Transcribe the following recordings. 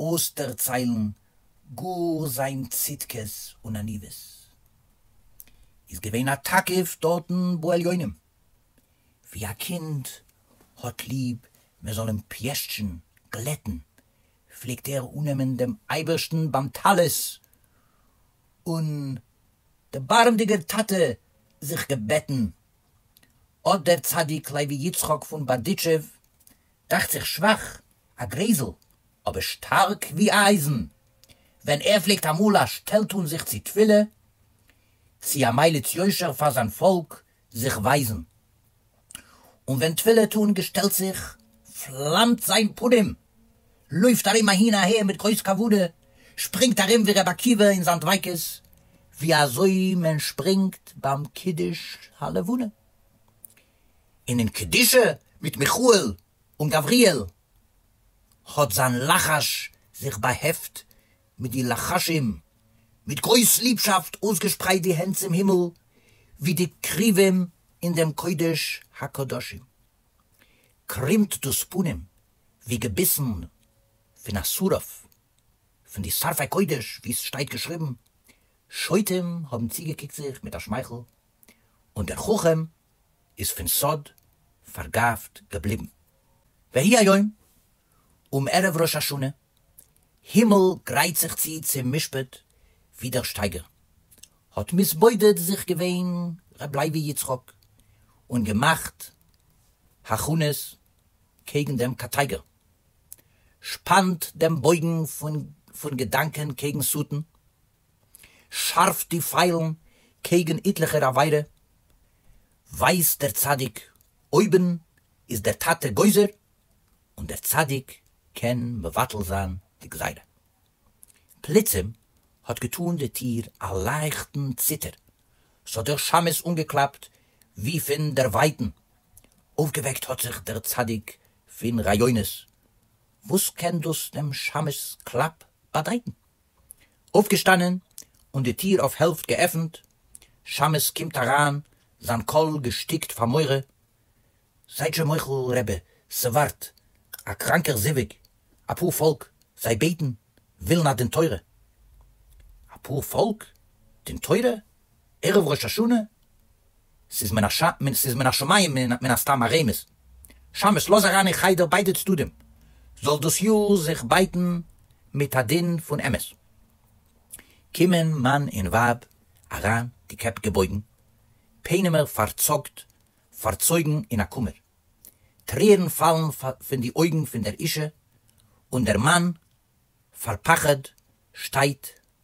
אויסדערציילן גאר זיין צדקות און עניוות. איז געווען א תקיף דארטן בעליונים, ווי א קינד האט ליב מען זאל אים פיישטשן, גלעטן, פלעגט ער אננעמען דעם אייבערשטן ביים טלית, און דערבארעמדיגער טאטע זיך געבעטן, אט דער צדיק לוי יצחק פון בארדיטשוב דאכט זיך שוואך, א גרייזל, אבער שטארק ווי אייזן, ווען ער פלעגט אמאל א שטעל טון זיך צו תפילה, צו א מליץ יושר פאר זיין פאלק זיך ווייזן. און ווען תפילה טון געשטעלט זיך, פלאמט זיין פנים, לויפט ארום אהין אהער מיט גרויס כבוד, שפרינגט ארום ווי רבי עקיבא אין זיין דביקות, ווי אזוי מען שפרינגט ביים קידוש הלבנה. אינעם קדישה מיט מיכאל און גבריאל האט זיין לחש זיך באהעפט מיט די לחשים, מיט גרויס ליבשאפט אויסגעשפרייט די הענט צום הימל ווי די קרובים אין דעם קודש הקדשים, קרימט דאס פנים ווי געביסן פון א שרף, פון די שרפי קודש ווי עס שטייט געשריבן, שוטים האבן צוגעקוקט זיך מיט א שמייכל און דער חכם איז פון סוד פארגאפט געבליבן. והי' היום, אום ערב ראש השנה, הימל גרייט זיך צו צום משפט, ווי דער שטייגער האט מתבודד זיך געווען ר' לייבי יצחק און געמאכט הכנות קעגן דעם קאטייגער, שפאנט דעם בויגן פון געדאנקען קעגן שטן, שארף די פיילן קעגן איטליכער עבירה, ווייזט דער צדיק, אויבן איז דער טאטע גוזר און דער צדיק קען מבטל זיין די גזירה. פלוצים האט געטאן די טיר א לייכטן ציטער, ס'האט דער שמשׂ אנגעקלאפט ווי פון דערווייטן, אויפגעוועקט האט זיך דער צדיק פון רעיונות, וואס קען דאס דעם שמש'ס קלאפ באדייטן? אויפגעשטאנען און די טיר אויף העלפט געעפנט, שמות קומט אריין זיין קול געשטיקט פאר מורא, זייט שוין מוחל רבי ס'ווארט א קראנקער זיווג, אפאר פאלק זיי בעטן ווילן א דין תורה, אפאר פאלק דין תורה? ערב ראש השנה? ס'איז מן הש ס, ס'איז מן השמים מן הסתם א רמז. שמש' לאז אריין אין חדר ביידע צדדים, זאל דאס יאר זיך בייטן מיט א דין פון אמת. קומען מאן און ווייב אריין, די קעפ געבויגן, פענעמער פארצאגט, פארצויגן אין א קומער. טרערן פאלן פון די אויגן פון דער אישה, און דער מאן, פארפחד, שטייט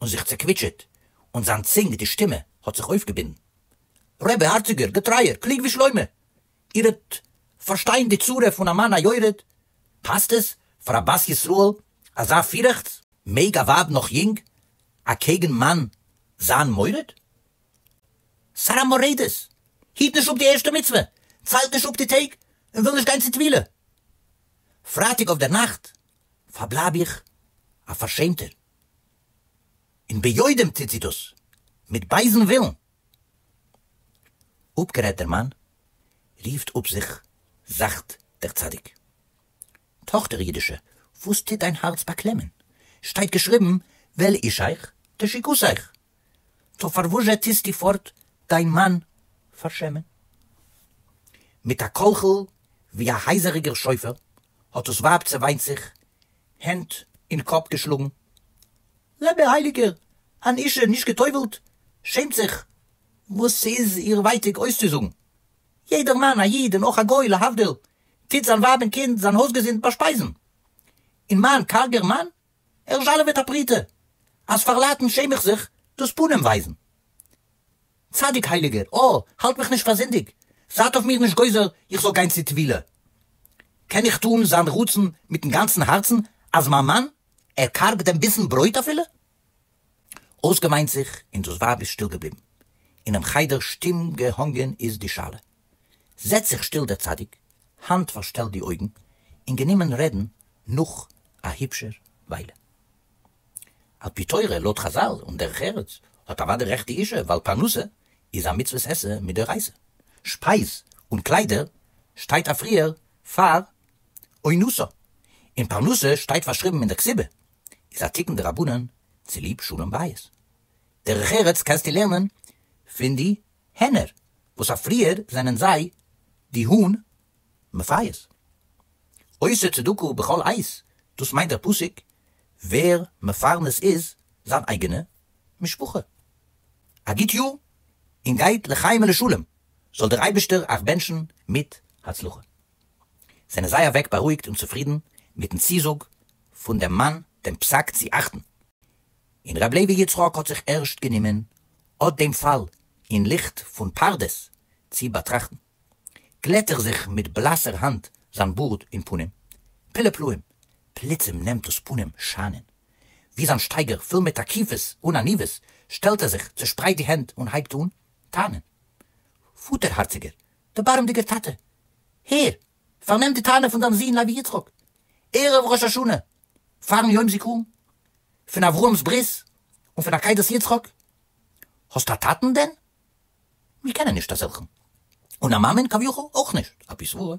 און זיך צעקוויטשעט, און זיין צונג, די שטימע, האט זיך אויפגעבינדן. רבי הארציגער, געטרייער, קלוג ווי שלמה, איר וועט פארשטיין די צורה פון א מאן א יורד, פאסט עס פאר א בת ישראל אזא פירעכץ? מעג א ווייב נאך יונג אקעגן מאן זיין מורד? ס'ארא מורדת! היט נישט אפ די ערשטע מצוה, ציילט נישט אפ די טעג, און וויל נישט גיין צו טבילה פרייטאג אויפדערנאכט, פארבלייב איך א פארשעמטער. און ביודעים טוט זי דאס, מיט בייזן ווילן. אפגערעדט דער מאן, רופט אפ זיך זאכט דער צדיק. טאכטער אידישע, וואס טוט דיין הארץ באקלעמען? שטייט געשריבן, וועל איש איך, תשיקות איך. טא פארוואזשע טוסטו פארט דיין מאן פארשעמען? מיט א קול'כל ווי א הייזעריגער שופר האט דאס ווייב צעוויינט זיך, הענט אין קאפ געשלאגן, רבי הייליגער, אן אישה נישט גע'טובל'ט שעמט זיך וואס ס'איז איר ווייטיג אויסצוזאגן. יעדער מאן, א איד און אויך א גוי להבדיל, טוט זיין ווייב און קינד, זיין הויזגעזינד באשפייזן. און מיין קארגער מאן ער זשאלעוועט א פרוטה אז פאר לייטן שעם איך זיך דאס פנים ווייזן. צדיק הייליגער, אה, האלט מיך נישט פאר זינדיג, זייט אויף מיר נישט גוזר איך זאל גיין צו טבילה. קען איך טון זיין רצון מיטן גאנצן הארצן אז מיין מאן, ער קארגט דעם ביסן ברויט אפילו? אויסגעוויינט זיך און דאס ווייב איז שטיל געבליבן. אינעם חדר שטום געהאנגען איז די שאלה. זעצט זיך שטיל דער צדיק, האנט פארשטעלט די אויגן, און גענומען רעדן נאך א היבשער וויילע. על פי תורה, לויט חזל און דרך ארץ, האט אוודאי רעכט די אישה, ווייל פרנסה איז א מצוות עשה מדאורייסא, שפייז און קליידער שטייט אפריער פאר אונוסא, און פרנסה שטייט פארשריבן אין דער כסובה, איז א תיקון דרבנן צוליב שלום בית. דרך ארץ קענסטו לערנען פון די. הענער, וואס אויף פריער זענען זיי די האן מפייס. עושה צדקה בכל עת, דאס מיינט דער פסוק, ווער מפרנס איז זיין אייגענע משפחה א גוט יאר און גייט לחיים ולשלום, זאל דער אייבערשטער אייך בענטשן מיט הצלחה. זענען זיי אוועק בארואיגט און צופרידן מיט'ן צוזאג פון דעם מאן דעם פסק צו אכטן, און ר' לוי יצחק האט זיך ערשט גענומען אט דעם פאל אין ליכט פון פרדס צו באטראכטן, גלעט ער זיך מיט בלאסער האנט זיין בארד און פנים, פלא פלאים, פלוצים נעמט דאס פנים שיינען, ווי זיין שטייגער פול מיט תקיפות און עניוות שטעלט ער זיך, צעשפרייט די הענט און הייבט אן טענה'ן, פאטער הארציגער, דערבארעמדיגער טאטע, הער, פארנעם די טענה פון דיין זון לוי יצחק, ערב ראש השנה פארן יום זיכרון פון אברהם'ס ברית און פון עקידת יצחק, האסטו א טאטן דען? מיר קענען נישט אזעלכן, און א מאמען כביכול אויך נישט, על פי סברה,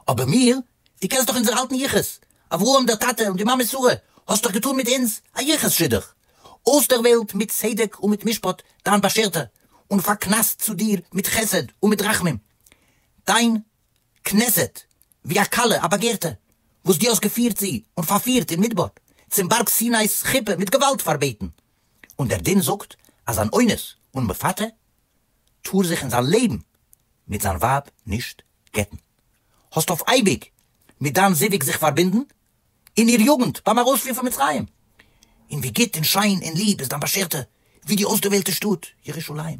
אבער מיר, דו קענסט דאך אונזער אלטן יחוס, אברהם דער טאטע און די מאמע שרה, האסט דאך געטון מיט אונז א יחוס שידוך, אויסדערוועלט מיט צדק און מיט משפט דיין באשערטע, און פארקנסט צו דיר מיט חסד און מיט רחמים דיין כּנסת, װי אַ כּלה אַ באַגערטע, װאָס דו האָסט געפֿירט זי און פֿאַרפֿירט אין מדבר, צום באַרג סינאיס חופּה מיט געװאַלד פֿאַרבעטן. און דער דין זאָגט, אַז אַן אונס און מפֿתה טאָר זיך אין זײַן לעבן מיט זײַן װײַב נישט גטן. האָסט אױף אײביק מיט דײַן זיװג זיך פֿאַרבונדן אין איר יוגנט בײַם אַרױספֿיר פֿון מצרים, און װי גוט און שײן און ליב איז דײַן באַשערטע, װי די אױסדערװעלטע שטאָט ירושלים!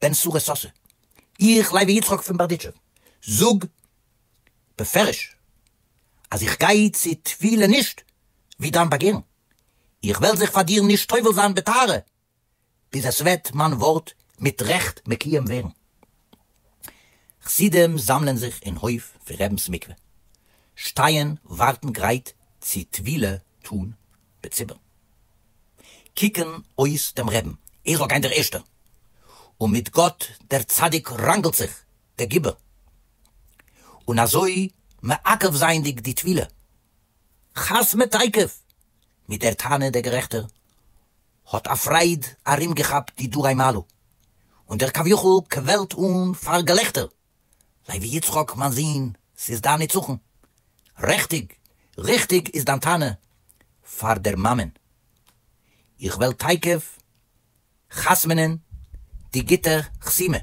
בן שרה סאסא, איך לייבי יצחק פון בארדיטשוב זאג בפירוש אז איך גיי צו תפילה נישט ווי דיין באגערן, איך וועל זיך פאר דיר נישט טובל זיין בטהרה ביז עס וועט מיין ווארט מיט רעכט מקויים ווערן. חסידים זאמלען זיך אין הויף פון רבינ'ס מקווה, שטייען ווארטן גרייט צו טבילה טון בציבור קוקן אויס דעם רעבן, איך זאל גיין דער ערשטער, און מיט גאט דער צדיק ראנגלט זיך דער גיבור, און אזוי מעכב זייענדיג די טבילה חת ם תיכף מיט דער טענה דער גערעכטער האט א פרייד ארום געכאפט די דורי מעלו, און דער כביכול קוועלט אן פאר געלעכטער. לוי יצחק מיין זון, ס'איז דיין נצחון. רעכטיג, ריכטיג איז דיין טענה פאר דער מאמען. איך וועל תיכף חתמ'נען די גוטע חתימה,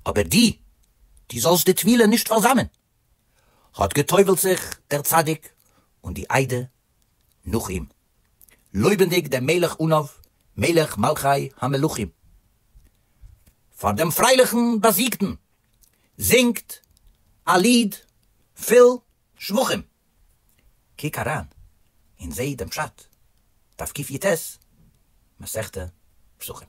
אבער דו, דו זאלסט די טבילה נישט פארזאמען. האט גע'טובל'ט זיך דער צדיק און די איידער נאך אים, לויבנדיג דעם מלך אנוב, מלך מלכי המלכים, פאר דעם פרייליכן באזיגטן, זינגט א ליד פול שבחים. קוק אריין און זע דעם פשט, דף קיט י ט, מסכת פסחים.